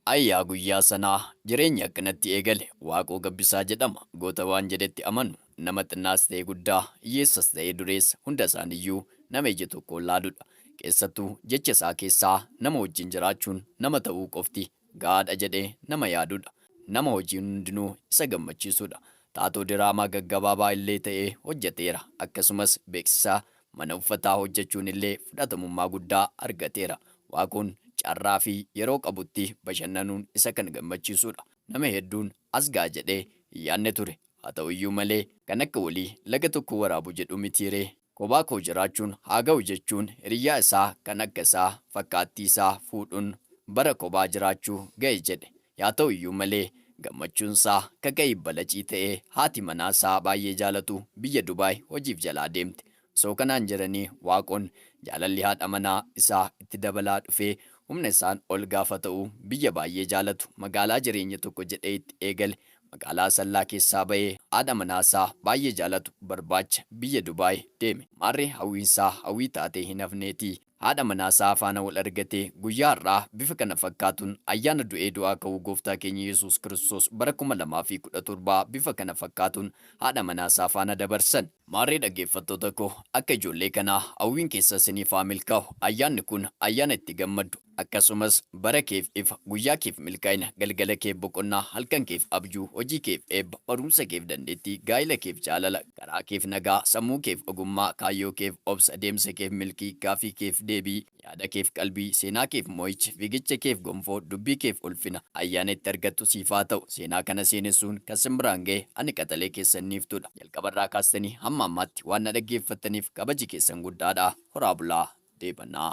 Ayi yaa guyyaa sanaa! Jireenyi akkanatti eegale. Waaqoo Gabbisaa jedhama. Goota waan jedhetti amanu. Nama xinnaas ta'e guddaa, hiyyeessas ta'e dureessa hunda isaaniyyuu nama ija tokkoon laaludha. Keessattuu jecha isaa keessaa nama wajjin jiraachuun nama ta'uu qofti ga'aadha jedhee nama yaadudha. Nama hojiin hundinuu isa gammachiisudha. Taatoo diraamaa gaggabaabaa illee ta'ee hojjeteera. Akkasumas beeksisa Mana uffataa hojjechuun illee fudhatamummaa guddaa argateera. Waaqoon carraa fi yeroo qabutti bashannanuun isa kan gammachiisudha. Nama hedduun as ga'a jedhee hin yaadne ture. Haa ta'u iyyuu malee, kan akka walii laga tokkoo waraabu jedhuu mitii ree? Kophaa koo jiraachuun haa ga'u jechuun hiriyyaa isaa kan akka isaa, fakkaattii isaa, fuudhuun bara kophaa jiraachuu ga'e jedhe. Yaa ta'u iyyuu malee, gammachuunsaa kaka'ii balacii ta'e, haati manaasaa baay'ee jaalatu biyya Dubaay hojiif jalaa deemte. Osoo kanaan jiranii Waaqoon jaalalli haadha manaa isaa itti dabalaa dhufee humna isaan ol gaafa ta'u biyya baay'ee jaalatu magaalaa jireenya tokko jedhee itti eegale magaalaa Asallaa keessaa ba'ee haadha manaasaa baay'ee jaalatu barbaacha biyya Dubaay deeme. Maarree hawwiinsaa hawwii taatee hin hafneetii. Haadha manaa isaa faana wal argate. Guyyaa har'aa bifa kana fakkaatuun ayyaana du'ee du'aa ka'uu Gooftaa keenya Yesuus Kiristoos bara 2017 bifa kana fakkaatuun haadha manaa isaa faana dabarsan. Maarree dhaggeeffattoota koo akka ijoollee kanaa hawwiin keessan siniif haa milkaa'u. Ayyaanni kun ayyaana itti gammaddu. Akkasumas bara keef ifa, guyyaa keef milkaa'ina, galgala keef boqonnaa, halkan keef abjuu, hojii keef eebba, barumsa keef dandeettii, gaa'ila keef jaalala, Garaa keef nagaa, sammuu keef ogummaa, kaayyoo keef obsa, deemsa keef milkii, gaafii keef deebii, yaada keef qalbii, seenaa keef mo'icha, fiigicha keef gonfoo, dubbii keef ulfina, ayyaana itti argattu siif haa ta'u. Seenaa kana seenessuun kan sin biraan ga'e ani qaxalee keessan Niiftuudha. Jalqabarraa kaastanii hamma ammaatti waan na dhaggeeffattaniif kabaji keessan guddaadha. Horaa bulaa! Deebanaa!